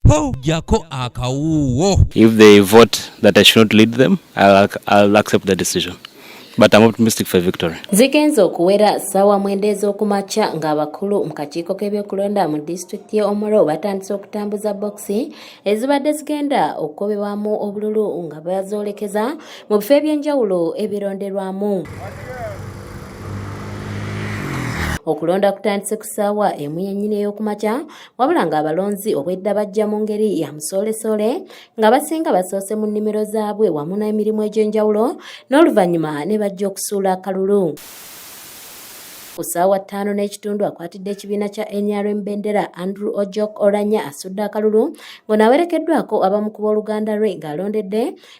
Ho, jako akawuwo. If they vote that I should not lead them, I'll, I'll accept the decision. But I'm optimistic for victory. Zigenze okuwera sawa mwenda ez'okumakya ng'abakulu mu kakiiko k'ebyokulonda mu disitulikiti y'e Omoro batandise okutambuza bokisi ezibadde zigenda okukobebwamu obululu nga bazoolekeza mu bifo eby'enjawulo ebironderwamu. okulonda kutandise ku ssaawa emu yennyini ey'okumakya wabula ng'abalonzi obwedda bajja mu ngeri ya musoolesole nga basinga basoose mu nnimiro zaabwe wamu n'emirimu egy'enjawulo n'oluvannyuma ne bajja okusuula akalulu ku ssaawa ttaano n'ekitundu akwatidde ekibiina kya nrm bendera andrew ojok olanya asudde akalulu ng'ono awerekeddwako abamu ku booluganda lwe ng'alondedde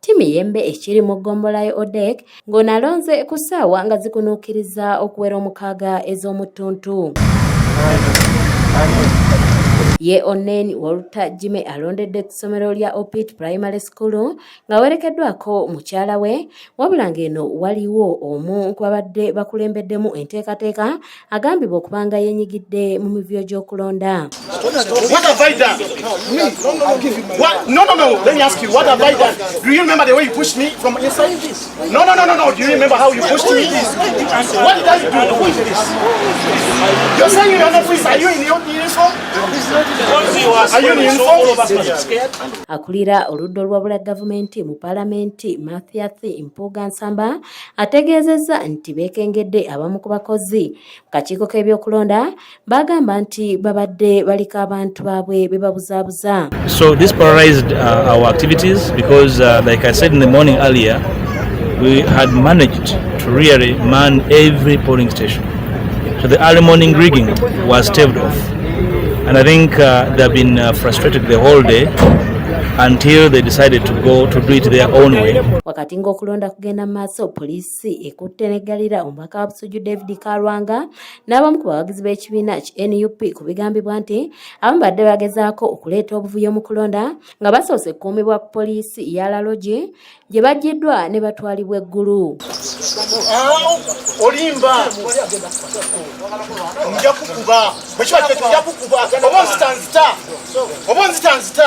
Timiyembe ekiri mu ggombola ya Odek ng'ono alonze ku ssaawa nga zikunuukiriza okuwera omukaaga ez'omuttuntu. Ye Onen Wolta Jime alondedde ku ssomero lya Opit Primary School ng'awerekeddwako mukyala we wabula ng'eno waliwo omu ku babadde bakulembeddemu enteekateeka agambibwa okuba nga yenyigidde mu mivuyo gy'okulonda akulira oludda olwabula gavumenti mu palamenti mathiath mpuuga nsamba ategeezezza nti beekengedde abamu ku bakozi mu kakiiko k'ebyokulonda baagamba nti babadde baliko abantu baabwe be babuzaabuza so this paralyzed uh, our activities because uh, like i said in the morning earlier we had managed to really man every polling station so the early morning rigging was staved off and i think uh, they have been uh, frustrated the whole day until they decided to go to do it their own way wakati ng'okulonda genda mu maaso poliisi ekutte neggalira omubaka wa busujju david kalwanga n'abamu ku bawagizi b'ekibiina ki nup ku bigambibwa nti abamu badde bagezaako okuleeta obuvuyo mu kulonda nga basoose kukuumibwa poliisi ya lalogi gye bajjiddwa ne batwalibwa eggulu olimba nja kukuba bwekiba kyekija kukuba oba nzitanzita oba nzitanzita